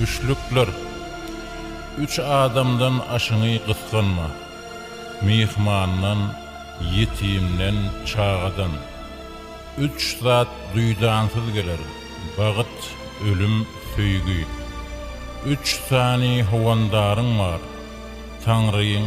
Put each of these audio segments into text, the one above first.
Üçlükler. Üç adamdan aşyňy gysganma. Myhmandan, ýetimden, çagadan. Üç zat duýdansyz geler, Bagt, ölüm, söýgi. Üç sany howandaryň bar, Taňryň,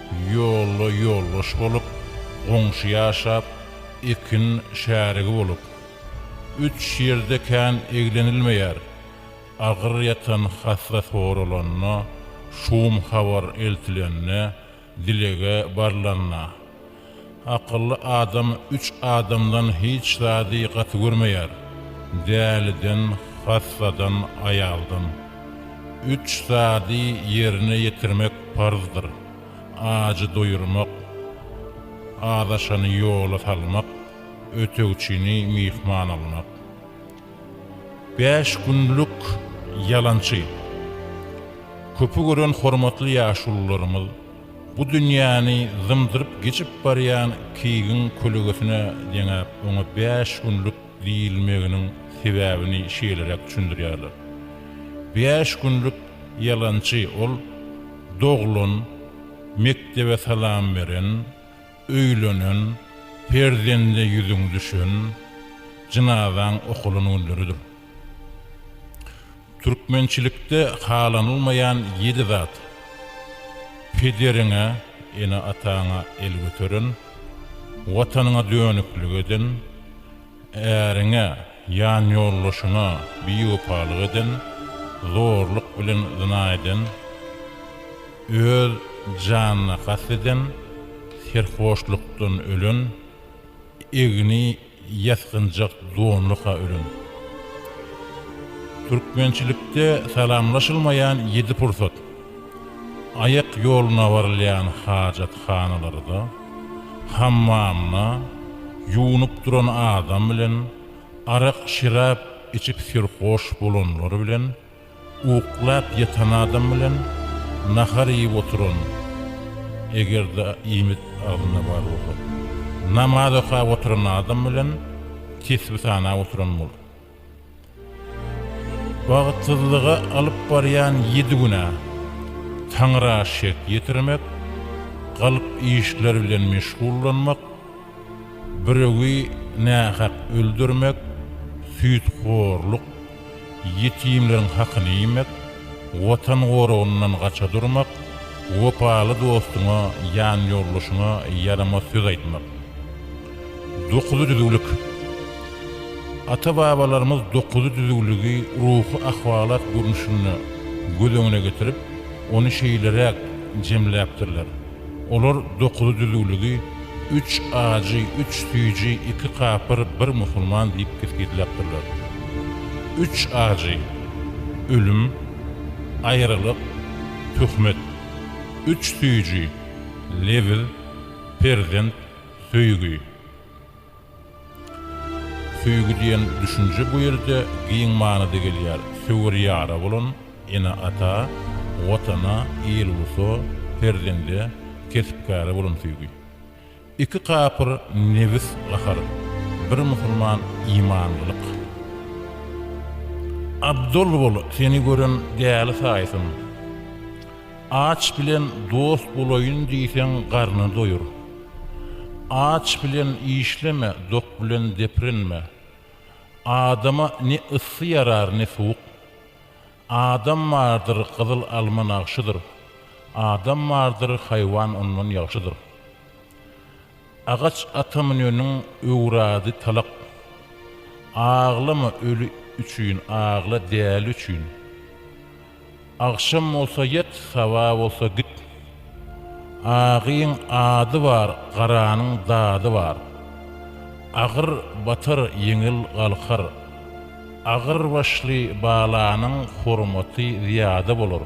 Ýolda ýoldaş bolup, goňşy ýaşap, ekin şärigi bolup. Üç ýerde kän eglenilmeýär. Agyr ýatan hassa soralanda, şum habar eltilende, dilege barlanda. Akylly adam üç adamdan hiç zady gaty görmeýär, däliden, hassadan, aýaldan. Üç zady ýerine ýetirmek parzdyr, ajy doýurmak, azaşany ýola salmak, ötegçini myhman almak. Bäş günlük ýalançy. Köpi gören hormatly ýaşulularymyz! Bu dünýäni zymdyryp geçip barýan Kigiň kölegesine deňäp, oňa bäş günlük diýilmeginiň sebäbini şeýleräk düşündirýärler. Bäş günlük ýalançy ol doglan, mekdebe salam beren, öýlenen, perzende ýüzüň düşen, jynazaň okalan günleridir. Türkmençilikde halanylmaýan ýedi zat. Pederiňe, ene-ataňa el göteren, Watanyňa dönüklik eden, äriňe, ýanýoldaşyňa biwepalyk eden, zorluk bilen zyna eden, öz janyna kast eden, serhoşlukdan ölen, egni Ýasgynjak donluka ölen. Türkmençilikde salamlaşylmaýan ýedi pursat. Aýak ýoluna barylýan hajathanalarda, hammamda, ýuwnup duran adam bilen, arak-şerap içip serhoş bolanlar bilen, Uklap ýatan adam bilen nahar iýip oturan, eger-de iýmit agzynda bar bolsa, namaz okap oturan adam bilen tesbi sanap oturan bol. Bagtsyzlyga alyp barýan ýedi günä, Taňra şek ýetirmek, galp işler bilen meşgullanmak, biregi nähak öldürmek, süýthorluk, Ýetimleriň hakyny iýmek, Watan goragyndan gaça durmak, Wepaly dostuňa, ýanýoldaşyňa ýaramaz söz aýtmak. Dokuz düzüwlik. Ata-babalarymyz dokuz düzüwligi ruhy ahwalat görnüşinde göz öňüne getirip, ony şeýleräk jemläpdirler. Olar dokuzy düzüwligi üç ajy, üç süýji, iki kapyr, bir musulman diýip kesgitläpdirler. Üç ajy, ölüm, aýralyk, töhmet. Üç süýji, lewiz, perzent, söýgi. Söýgi diýen düşünje bu ýerde giň manyda gelýär, söwer ýara bolan ene-ata, Watana, il-ulusa, perzende, kesp-käre bolan söýgi. Iki kapyr nebis gahar, bir musulman imanlylyk. Abdyl bol, seni gören däli saýsyn. Aç bilen dost bolaýyn diýseň garny doýur. Aç bilen işleme, dok bilen deprinme. Adama ne yssy ýarar, ne suwuk. Adam bardyr, gyzyl alma nagşydyr. Adam bardyr, haýwan ondan ýagşydyr. Agaç ata müneniň öwrady talak. Aglama öli üçin, agla däli üçin. Agşam bolsa ýat, saba bolsa git. Agyň ady bar, garanyň dady bar. Agyr batar, ýeňil galkar. Agyr başly balanyň hormaty zyýada bolar.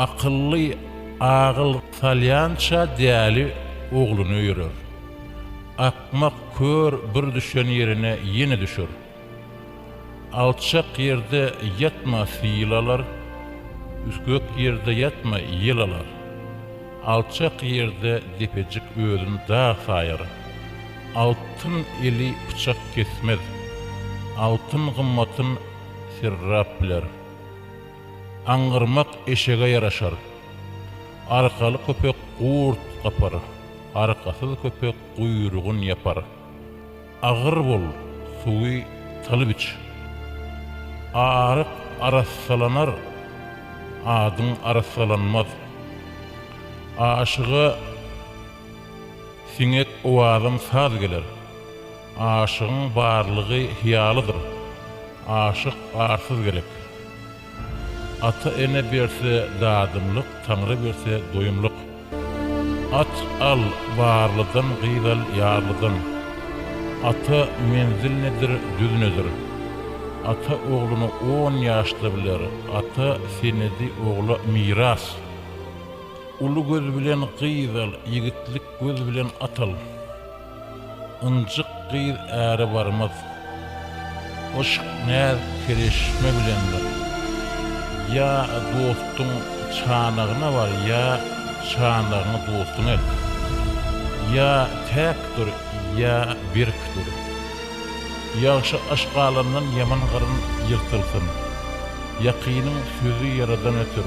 Akylly agyl salýança däli ogluna öýerer. Akmak kör bir düşen ýerine ýene düşer. Alçak ýerde ýatma syl alar, Üsgek ýerde ýatma ýel alar. Alçak ýerde depejik özün dag saýar, Altyn eli pyçak kesmez. Altyn gymmatyn serrap biler. Aňňyrmak eşege ýaraşar. Arkaly köpek gurt gapar, Arkasyz köpek guýrugyn ýapar. Agyr bol, suwy tylyp iç. Aryk arassalanar, adyň arassalanmaz. Aşyga siňek owazyň saz geler. Aşygyň barlygy hyýalydyr. Aşyk arsyz gerek. Ata-ene berse, dadymlyk, Taňry berse, doýumlyk. At al, barlydan, gyz al, ýarlydan. Ata menzil nedir, düz nedir? Ata ogluny on ýaşda biler, Ata senedi ogla miras. Uly göz bilen gyz al, Ýigitlik göz bilen at al. Ynjyk gyz äre barmaz. Yşk näzik serişme bilendir. Ýa dostuň çanagyna bar, ýa çanagyňy dostuňa et. Ýa täk dur, ýa berk dur. Ýagşy yşk alandan ýaman gyryn ýyrtylsyn. Ýakynyň sözi ýaradan öter.